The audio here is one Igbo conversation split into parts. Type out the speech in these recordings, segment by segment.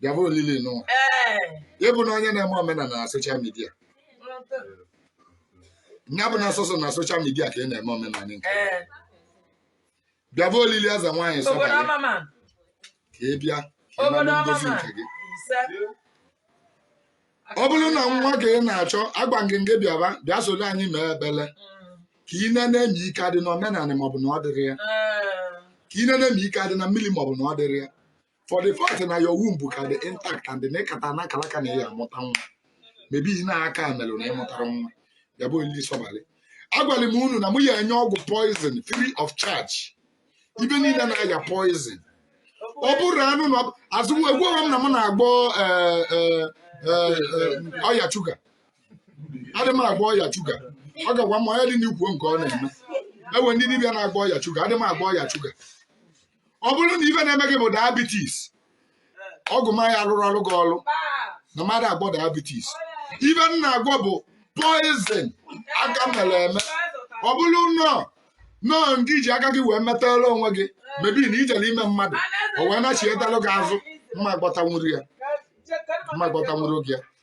bịaba olili nụwa ịbụ na onye na-eme omenala na soshal midia nya bụ na sọsọ na soshal midia ka ị na-eme omenala nke bịaba olili eze nwaanyị sọbalị ka ị bịa ka ị nara ngozi nke gị ọ bụrụ na nwa ka ị na-achọ agba ngenge bịaba bịa solo anyị mee ekpele ka ị nene ma ike adị na omenala maọbụ na ọ dịrọ ya ka ị nene ma ike adị na mmili maọbụ na ọ dịrọ ya for the fact na your womb ka dị intact and na ị kata na akalaka na ị ya-amụta nwa maybe ihe na aka melụ na ị mụtarọ nwa ya bụ ndị sọbalị agwala m unu na mụ ya enye ọgwụ poison free of charge ibe niile na-aya poison ọ bụrụ anụ na azụ egwughị m na m na-agwọ eh, eh, eh, eh, ọya shuga adị m agwọ ọya shuga ọ ga-agwa m onye dị n'ikwu nke ọ na-eme e nwe ndị dibịa na-agwọ ọya shuga adị m agwọ ọya shuga ọ bụrụ na ife na-eme gị bụ diabetes ọgwụ m ya alụrụ ọrụ gị ọrụ na m adị agwọ diabetes ife m na-agwọ bụ poison aka mere eme ọ bụrụ nnọọ nnọọ nke i ji aka gị wee metara onwe gị maybe na i jere ime mmadụ o wee nachietara gị azụ m ma agwọtanwuru ya m ma agwọtanwuru gị ya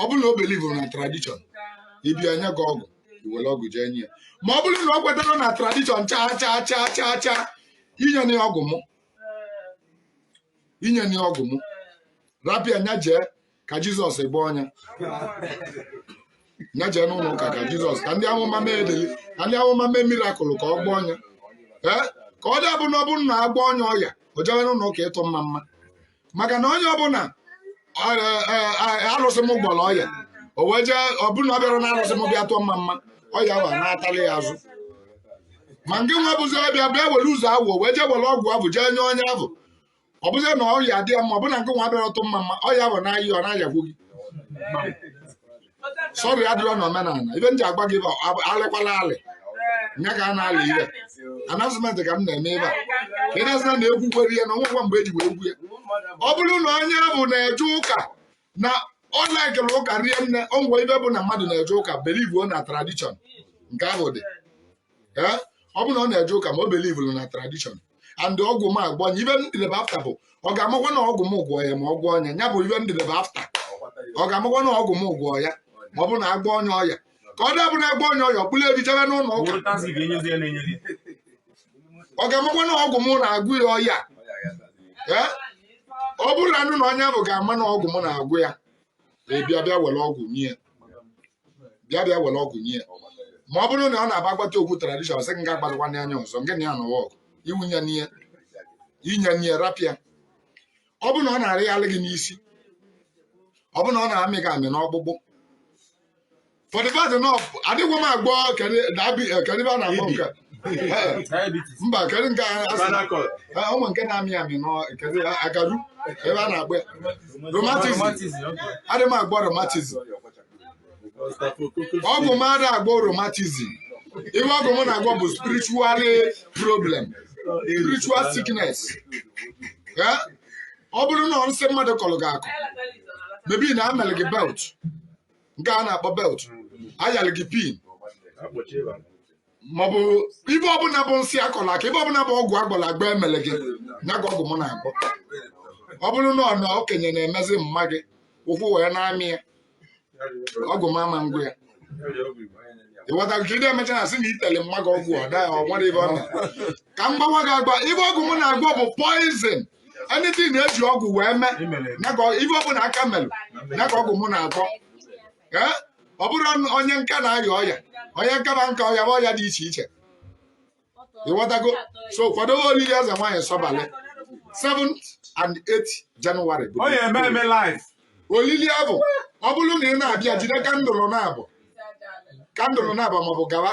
ọ bụrụ na o belivuru na tradishọn ị bịa e nye gị ọgwụ i were ọgwụ jee nye ya ma ọ bụrụ na o kwetarọ na tradishọn chaa chaa chaa chaa chaa enyena ya ọgwụ mụ enyena ya ọgwụ mụ rapụ ya nya jee ka jizọs gwọọ nya nya jee n'ụlọ ụka ka jizọs ka ndị amụma mee edeli ka ndị amụma mee mirakụl ka ọ gwọọ nya ee ka ọ dị abụ na ọ bụrụ na a gwọọ nya ọya o jewe n'ụlọ ụka ịtụ mma mma maka na onye ọbụla arụsị m gwọrọ ọya o wee jee ọ bụ na ọ bịarọ na arụsị m bịa tụọ mma mma ọya abụ natalị ya azụ ma ngị nwa bụzi ọbịa bịa were ụzọ awụ wee jee were ọgwụ abụ jee nye onye abụ ọ bụzie na ọya dị ya mma ọ bụ na ngị nwa bịarọ tụ mma mma ọya abụ na-aya ọ na-ayakwu gị sọrị adịrọ na omenala ife m ji agwa gị bụ ab- alịkwala alị nya ka a na-alị ife announcement ka m na-eme ebe a ka ị na-asị na na ekwukwere ihe na o nwekwa mgbe eji wee ekwu ya ọ bụrụ na onye abụ na-eje ụka na ọ laikere ụka rie nne o nwe ife bụ na mmadụ na-eje ụka belivuo na tradishọn nke ahụ dị Ee, ọ bụrụ na ọ na-eje ụka ma o belivuru na tradishọn and ọgwụ m agwọọ nya ife m dịrebe afta bụ ọ ga-amakwa na ọgwụ m gwọ ya ma ọ gwọọ nya ya bụ ife m dịrebe afta ọ ga-amakwa na ọgwụ m gwọ ya ma ọ bụ na a gwọọ nya ọya ka ọ dị abụ na a gwọọ nya ọya ọ kpụrụ efi jebe n'ụlọ ụka ọ ga-amakwa na ọgwụ m na-agwọ ya ọya Ee? ọ bụrụ na anụ na onye abụ ga-ama na ọgwụ m na-agwọ ya ị bịa bịa were ọgwụ nye ya bịa bịa were ọgwụ nye ya ma ọ bụrụ na ọ na-aba agbacha okwu tradishọn sị gị nga agbazikwa ndị anya ọzọ nke na ya nọwa ọgụ iwu nya n'ihe inye n'ihe rapịa ọ bụ na ọ na-arị alị gị n'isi ọ bụ na ọ na-amị gị amị n'ọkpụkpụ for the fact na adịghị m agwọ kedu ibe a na-akpọ nke Diabetes. mba kedu nke a asị na- Spinal cord. Ah, ụmụ nke na-amị amị n'kedu agaru ebe a na-agba ya. Rheumatism. Rheumatism, okay. adị m agwọ rheumatism ọgwụ m ada agwọ rheumatism ibe ọgwụ m na-agwọ bụ spiritual problem spiritual sickness Eh? ọ bụrụ na ọ nsị mmadụ kọrọ gị akọ maybe na emeli gị belt nke a na-akpọ belt a yalị gị pin maọbụ ibe ọbụla bụ nsị a kọrọ akọ ibe ọbụla bụ ọgwụ a gwọrọ agwọ emele gị ya ka ọgwụ m na-agwọ ọ bụrụ na ọ na okenye na-emezi mma gị ụkwụ wee na-amị ya ọgwụ m ama agwọ ya ịghọtara ka ị na-emecha na sị na itele mma gị ọgwụ ọ daghị ọ nwere ibe ọ na ka m gbawa gị agba ibe ọgwụ m na-agwọ bụ poison anything na e ji ọgwụ wee mee ya ka ọ- ibe ọbụla aka mere ya ka ọgwụ m na-agwọ ọ bụrụ onye nka na-arịa ọya onye nka na nka ọya bụ ọya dị iche iche ịghọtago so kwadobe olili eze nwaanyị sọbalị 7th and 8th January olili abụ ọ bụrụ na ị na-abịa jide kandụlụ naabọ kandụlụ naabọ maọbụ gawa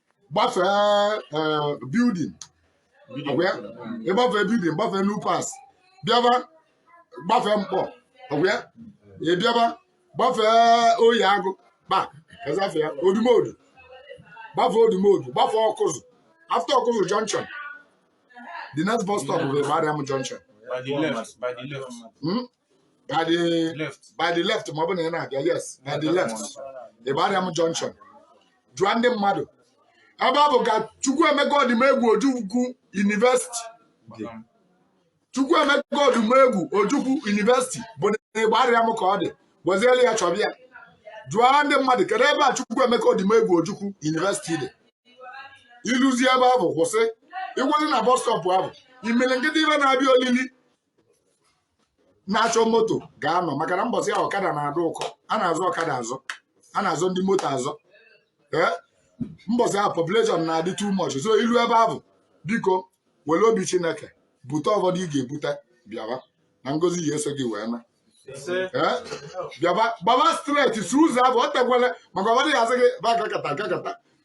gbafee eh, building ọkwa ya ịgbafee building gbafee New Parts bịaba gbafee Nkpọ ọkwa ya ị bịaba gbafee oyi agụ kpa ezafe ya odumodu gbafee odumodu gbafee ọkụzụ after ọkụzụ junction the next bus stop bụ Igbariam junction By the left, by the left. Hmm? by the left by the left ma ọ bụ na ị na-abịa yes by the left Igbariam junction jụọ ndị mmadụ ebe ọ bụ ka Chukwuemeka Odumegwu Ojukwu University Igbariam. Chukwuemeka Odumegwu Ojukwu University bụ na Igbariam ka ọ dị gwaziere ya chọbịa jụọ ndị mmadụ kedu ebe a Chukwuemeka Odumegwu Ojukwu University dị i luzie ebe ahụ kwụsị ịgwazi na bọs stọpụ ahụ imirikiti ibe na-abịa olili na-achọ moto ga-anọ maka na mbọsị ahụ ọkada na-adị ụkọ a na-azọ ọkada azọ a na-azọ ndị moto azọ ee mbọsị ahụ population na-adị too much so i lu ebe ahụ biko were obi chineke bute ọbọdụ ị ga-ebute bịaba na ngozi ya eso gị wee na ee bịaba gbaba straight si ụzọ ahụ ọ tekwele maka ọbọdụ ya asị gị ba gakata gakata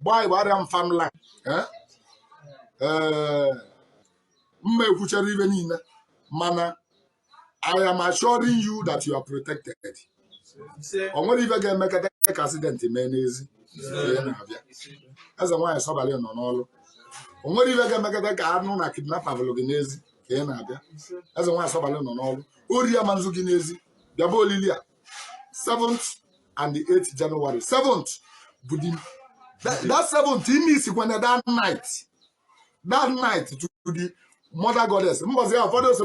gbaa Igbariam farmland eh? Eh, mma ekwuchara ive niile mana I am assuring you that you are protected. o nwerọ ive ga-emekata ka accident mee n'ezi mgbe ị na-abịa eze nwaanyị sọbalị nọ n'ọrụ o nwerọ ive ga-emekata ka a nụ na kidnapper buru gị n'ezi ka ị na-abịa eze nwaanyị sọbalị nọ n'ọrụ ori ama nzu gị n'ezi bịaba olili a 7th and the 8th January 7th bụ the that, that 7th ime isikwa na that night that night to the mother goddess mbọsị ya ụfọdụ ose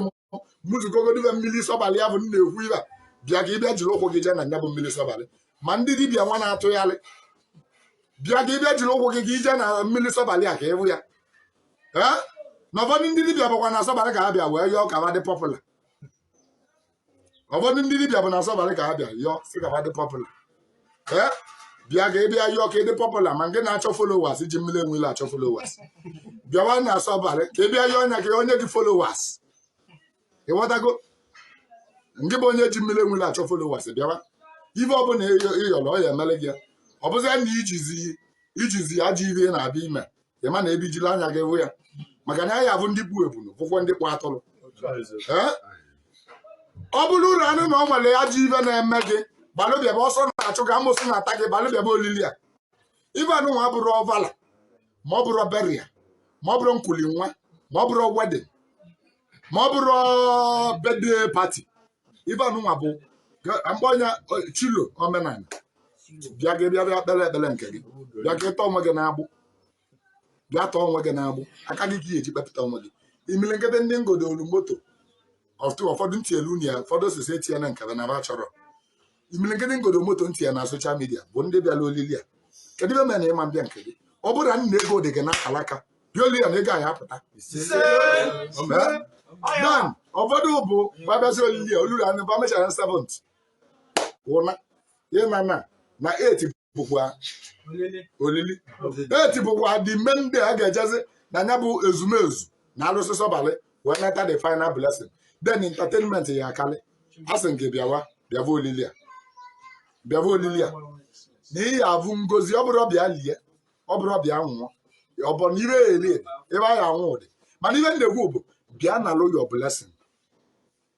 mụzikogodive mmiri sọbalị ya bụ m na-ekwu ive a bịa ka ị bịa jiri ụkwụ gị jee na nya bụ mmiri sọbalị ma ndị dibịa nwa na-atụgharị bịa ka ị bịa jiri ụkwụ gị ka i je na mmiri sọbalị a ka ị hụ ya ee na ụfọdụ ndị dibịa bụkwa na sọbalị ka ha bịa wee yọọ ka ha dị popular ụfọdụ ndị dibịa bụ na sọbalị ka ha bịa yọọ sị ka ha dị popular ee bịa ka ị bịa yọọ ka ị dị popular ma nke na-achọ followers ji mmiri enwe ilo achọ followers bịawa na sọbalị ka ị bịa yọọ nya ka o nye gị followers ị ghọtago nke bụ onye ji mmiri enwe ilo achọ followers bịawa ife ọbụla ị yọrọ ọ ya emele gị ya ọ bụzịa na i jizi i jizi ajọ ife ị na-abịa ime ị ma na ebe i jiri anya gị hụ ya maka na ya ya bụ ndị kpụ ebunu bụkwa ndị kpụ atụrụ Ee? ọ bụrụ uru anụ na o nwere ajọ ive na-eme gị gbalụ bịaba ọsọ na-achụ gị amosu na-ata gị gbalụ bịaba olili a ive anụnwa abụrọ ọvala ma ọ bụrụ burial ma ọ bụrụ nkuli nwa ma ọ bụrụ wedding ma ọ bụrụ birthday party ive anụnwa bụ mgbe onye chilo omenala bịa gị bịa bịa kpere ekpere nke gị bịa ka ị tọọ onwe gị n'agbụ bịa tọọ onwe gị n'agbụ aka gị ka ị ya-eji kpepụta onwe gị imirikiti ndị m gọdolu moto ụfọdụ m tinyelu ya ụfọdụ sị sị etinyela nke ba na ba achọrọ imilikiti m gọdo moto m tie ya na social media bụ ndị bịara olili a kedu ive mere na ị ma mbịa nke gị ọ bụrụ na nna ego dị gị na alaka bịa olili a na ego ya apụta dan ụfọdụ bụ ba bịazi olili a olulu anụ ba mechara na 7th ụna ịna na na 8th bụkwa olili 8th bụkwa the main day a ga-ejezi na ya bụ ezumezu na alụsị sọbalị wee nata the final blessing then entertainment ya akarị a sị m gị bịawa bịava olili a bịava olili a na ị ya avụ ngozi ọ bụrọ bịa lie ọ bụrọ bịa nwụọ ọ bụ na ihe eri ihe a ya anwụ dị mana ihe m na-ekwu bụ bịa nalụ your blessing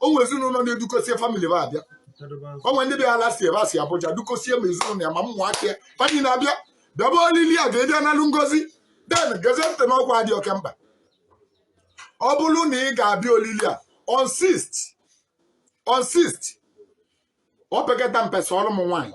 o nwere ezinụlọ na-edukosie family ba abịa o nwere ndị bịa last year ba si Abuja dukosie ma ezinụlọ ya ma ụmụaka ya fa niine abịa bịaba olili a ka ị bịa nalụ ngozi then gezie ntị n'ọkwa dị oke mkpa ọ bụrụ na ị ga-abịa olili a on 6th on 6th ọ pekata mpe sọrọ m nwaanyị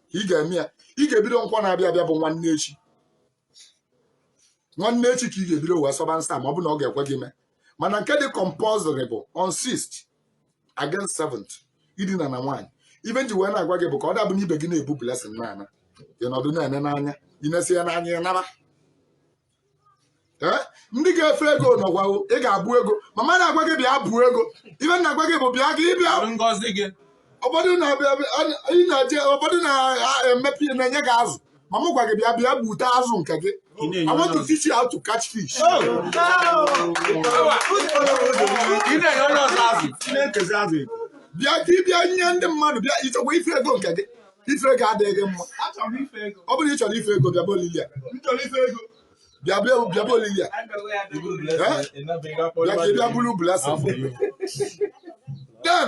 ka ị ga-eme ya ị ga-ebido nkwọ na-abịa abịa bụ nwanne echi nwanne echi ka ị ga-ebido wee sọba nsọ ma ọ bụ na ọ ga-ekwe gị mee mana nke dị compulsory bụ on 6th against 7th idina na nwaanyị ive m ji wee na-agwa gị bụ ka ọ dabụ na ibe gị na-ebu blessing na-ana ị nọdụ na-ene n'anya ị nesịa n'anya naba Eh? ndị ga-efe ego nọkwa ị ga-abụ ego m ama na-agwa gị bịa bu ego ive m na-agwa gị bụ bịa gị bịa ngozi gị ụfọdụ na-eje ụfọdụ na-emepe na-enye gị azụ ma m gwa gị bịa bịa gbute azụ nke gị I want to teach you how to catch fish. Oh. bịa ka ị bịa nye ndị mmadụ bịa ị chọkwa ife ego nke gị ife ego adịghị gị mma ọ bụrụ na ị chọrọ ife ego bịaba olili a bịa bịa bịaba olili a bịa ka ị bịa buru blessing then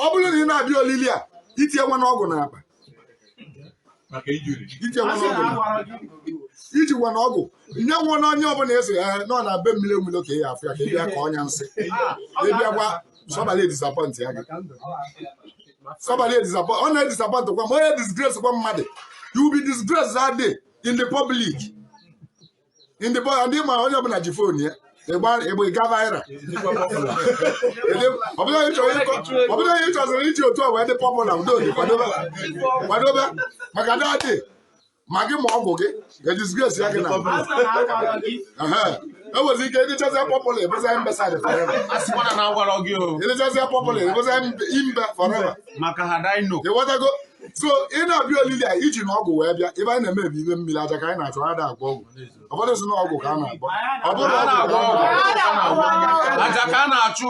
ọ bụrụ na ị na-abịa olili a itinye nwa n'ọgwụ n'akpa itinye nwa n'ọgwụ n'akpa iji nwa n'ọgwụ nye nwa na onye ọbụla esi ya nọ na be mmiri enwilo ka ị ya afụ ya ka ị bịa kọọ ya nsị ị bịakwa sọbala disappoint ya gị somebody disappoint ọ na-edisappoint kwa ma ọ na-edisgrace kwa mmadụ you will be disgraced that day in the public in the public ndị ma onye ọbụla ji fon ya ịgba ịgba ịga viral ọ bụ na onye chọrọ ịkọ ọ bụ na onye chọziri iji otu a wee dị popular udo dị kwadobe kwadobe maka that day ma gị ma ọgwụ gị edisgrace ya gị na ị nwezi ike ịdịchazi popular ị bụzia imbecile forever asịkwana na agwara gị o ịdịchazi popular ị bụzia imbe forever maka ha dino ịghọtago so ị na-abịa olili a iji na ọgwụ wee bịa ebe anyị na-eme ebe ime mmiri aja ka anyị na-achụ ada agwọ ọgwụ ụfọdụ si na ọgwụ ka a na-agwọ ọ bụrọ ọgwụ ka a na-agwọ aja ka a na-achụ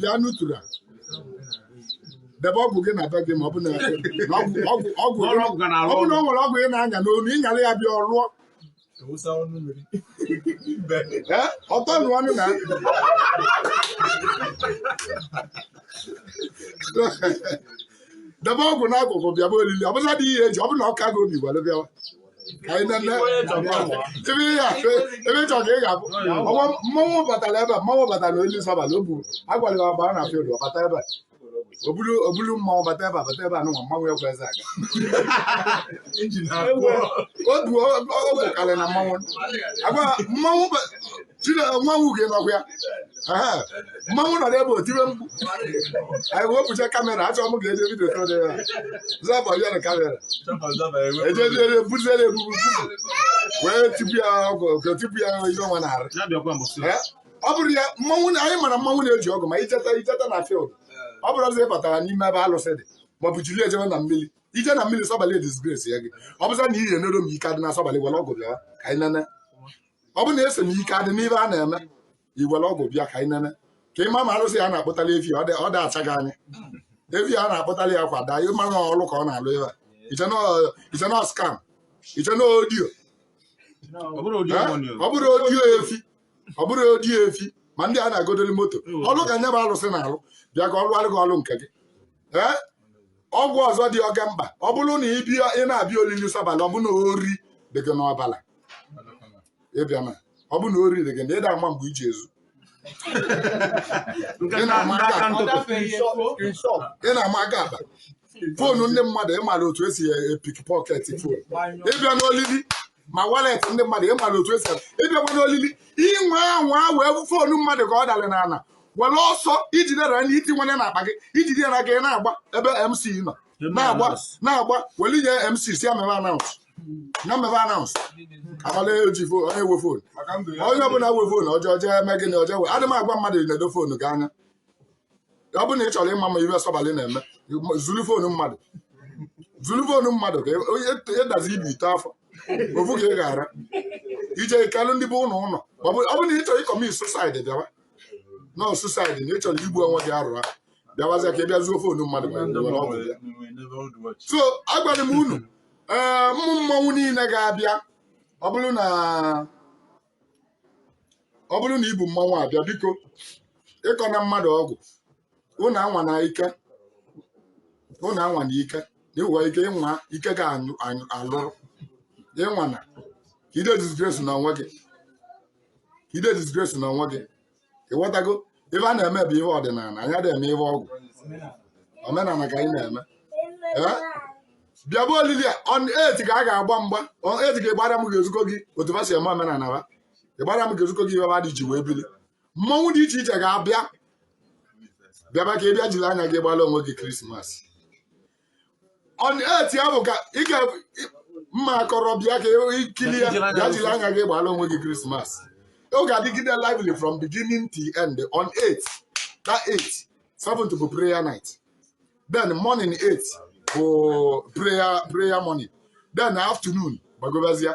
bịa n'utura debe ọgwụ gị na be gị ma ọ bụ na ọgwụ ọgwụ ọ bụ na o nwere ọgwụ ị na-anya n'onu ị nyara ya bịa ọ ruo ọtọ nụ ọnụ na debe ọgwụ n'akụkụ bịaba olili ọ bụla dị ihe eji ọ bụ na ọ ka gị obi gwara bịawa ebe ị chọrọ ka ị ga-abụ mmanwụ batara ebe a mmanwụ batara alụsị Sọbala o buru agwara ya gbaa na field ọ bata ebe a obulu obulu mmanwụ bata ebe a bata ebe a nụnwa mmanwụ ekwezi aga otu o bukarị na mmanwụ agwa mmanwụ mmanwụ ga-anọkwa ya mmanwụ nọ n'ebe o tiri mkpu anyị wepụcha kamera achọ m ga-eje vidio tọrọ ya zaba ya na kamera ejeziere buziere ebubu wee tipu ya ọgwụ tipu ya ihe ọnwa na-arụ ọ bụrụ ya mmanwụ na anyị mara mmanwụ na-eji ọgwụ ma ijeta ijeta na field ọ bụrụ ọzọ ị batara n'ime ebe alụsị dị maọbụ jiri ejebe na mmiri ije na mmiri sọbalị disgrace ya gị ọ bụzia na ị na-ero m ike adị na sọbalị were ọgwụ bịa ka anyị nene ọ bụ na ị sị m ike adị n'ife a na-eme i were ọgwụ bịa ka anyị nene ka ị ma ma arụsị ya na-akpụtali efi ọ dị- ọ da-acha gị anya efi a na-akpụtali ya kwa daa ị ma na ọlụ ka ọ na-alụ ebe a i che na ọ- i che na ọ scam i che na audio ọ bụrụ audio money ọ bụrụ audio efi ọ bụrụ audio efi ma ndị a na-agodoli moto ọlụ ka nya bụ arụsị na-alụ bịa ka ọ lụwalị gị ọrụ nke gị ee okwu ọzọ dị oke mkpa ọ bụrụ na ị bịa ị na-abịa olili sọbalị ọ bụ na ori dị gị n'ọbala ịbịana ọ bụ na ori dị gị na ị da-ama mgbe i ji ezu nke Ị na-ama ndị aka ntụtụ ị na-ama aka akpa foonu ndị mmadụ ị mara otu esi epick pocket foonu ịbịana olili ma wallet ndị mmadụ ị mara otu esi ịbịakwana olili inwe anwa wee bụ foonu mmadụ ka ọ dara n'ala were ọsọ i jide nya itinyena n'akpa gị i jide nya gị na-agba ebe mc nọ na-agba na-agba were nye mc sị ya mebe announce na mebe announce abalị eji fo- onye nwe foonu onye ọbụla nwe foonu o jee jee mee gịnị o jee wee adị m agwa mmadụ nedo foonu gị anya ọ bụrụ na ị chọrọ ịma ma ihe sọbalị na-eme zulu fonu mmadụ zulu fonu mmadụ ka ị- onye ịdazi ibi ite afọ ofu ka ị ghara ije kalụ ndị be unu ụnọ ọ bụ ọ bụrụ na ị chọrọ ịcommit suicide bịawa na ọ suicide na ị chọrọ igbu onwe gị arụrụ ahụ bịawazịa ka ị bịa zuo fonu mmadụ ma ị were ọgwụ bịa so agwara m unu ee mmụ mmọnwụ niile ga-abịa ọ bụrụ na ọ bụrụ na i bu mmanwụ abịa biko ịkọna mmadụ ọgwụ unu anwana ike unu anwana ike ịnwa ike ịnwa ike ga anyụ- anyụ- alụrụ ịnwana ka ide disgrace na onwe gị ka ide disgrace na onwe gị ị ghọtago ife a na-eme bụ ihe ọdịnala anyị adịghị eme ihe ọgwụ omenala ka anyị na-eme Ee? bịaba olili a on eight ka a ga-agba mgba on eight ka Igbariam ga-ezuko gị otu fa si eme omenala fa Igbariam ga-ezuko gị ife fa dị ji wee bili mmọnwụ dị iche iche ga-abịa bịaba ka ị bịa jiri anya gị gbara onwe gị krismas 8 ya bụ ka ị ga mma akọrọ bịa ka i kili ya bịa jiri anya gị gbara onwe gị krismas ọ ga-adịgide lively from beginning to end on 8 that 8 7th bụ prayer night then morning 8 bụ prayer prayer morning then afternoon gbagobazia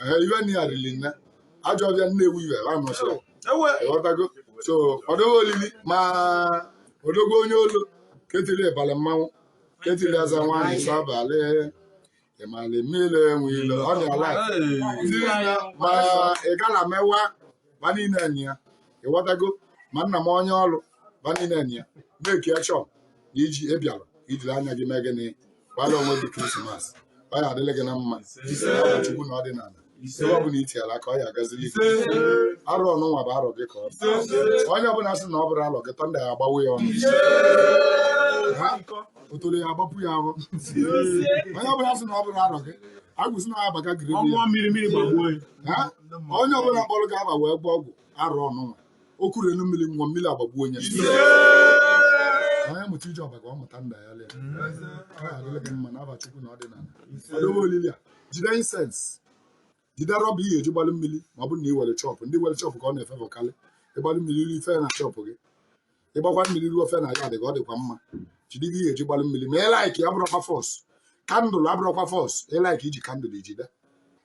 Ee, iwe na ya riri nne ajọ ọbịa nnewu iwe ha nọchiri ewe ịghọtago so ọdọghị olili ma odogwu onye olu ketiri ịbalị mmanwụ ketiri Ezenwaanyị Sọbalị ịmalị mmiri Enweilo ọ dị ala tiri ya ma ị gala mewa ba niile enyi ya ịghọtago ma nna m onye olu ba niile enyi ya na-eki achọ na iji ịbịara ijiri anya gị mee gịnị gbara onwe gị Christmas ọ ya adịlị gị na mma chukwu na ọdịnala ebe ọ bụla itiala aka ọ ya agazili gị arọ nụnwa bụ arọ gị ka ọ bụ onye ọbụla sị na ọ bụrọ arọ gị thunder ya agbawa ya ọnụ Ha? otoro ya agbapụ ya ahụ onye ọbụla sị na ọ bụrọ arọ gị agwụsị na ya abaga gịrị ọnwa mmiri mmiri gbagbuo ya Ha? onye ọbụla kpọrọ gị ava wee gwọọ ọgwụ arọ nụnwa o kwuru elu mmiri nwa mmiri agbagbuo onye onye mụta ije ọba ka ọ mụta nda ya lee ọ adịlị gị mma n'ava chukwu na ọdịnala ọdowe olili a jide incense jide rubber ihe eji gbalụ mmiri ma ọ bụrụ na ị nwere shop ndị nwere shop ka ọ na-efavour karị ị gbalụ mmiri ruo i fee na shop gị ị gbakwa mmiri ruo i fee na yard gị ka ọ dịkwa mma jide ihe eji gbalụ mmiri ma ị like abụrọkwa force candle abụrọkwa force ị like i ji candle i jide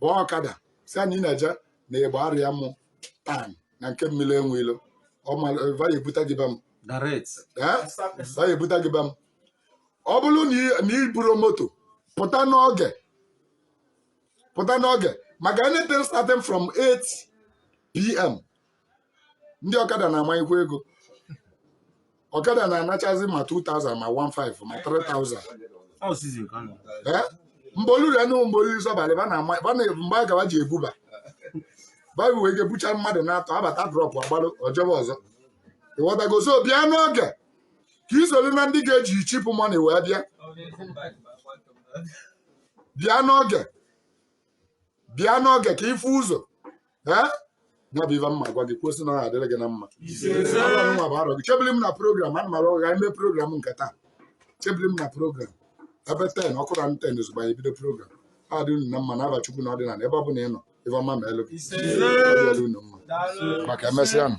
bụọ ọkada sị ya na ị na-eje na Igbariam town na nke mmiri Enweilo ba ya-ebute gị be m direct ee ọ ga-ebute gị be m ọ bụrụ na ị- na i buru moto pụta n'oge pụta n'oge maka anything starting from 8 pm ndị ọkada na-amanyekwa ego ọkada na-anachazi ma 2000 ma 15 ma 3000 Ọ season ka ọ nọ. Eh? mgbe o lulu anụ mgbe o lulu Sọbalị ba na-ama ba na mgbe a ka ba ji ebuba baịbụl wee ga-ebucha mmadụ na-atọ abata drop agbalụ ọ chọba ọzọ ịghọtago so bịa n'oge ka i soro na ndị ga-eji cheap money wee bịa bịa n'oge bịa n'oge ka ị fụ ụzọ ee ya bụ ife m ma-agwa gị kwusi na ọ adịrị gị na mma Arọ nwa bụ arọ gị chebili m na program ana m arụ ọrụ ga ime program nke taa chebili m na program ebe ten ọ kụọ na ten ozugbo anyị bido program ọ dị unu na mma n'ava chukwu na ọdịnala ebe ọ bụla ị nọ ife ọma ma-elu gị Ọ dịrị unu mma maka emesịa nụ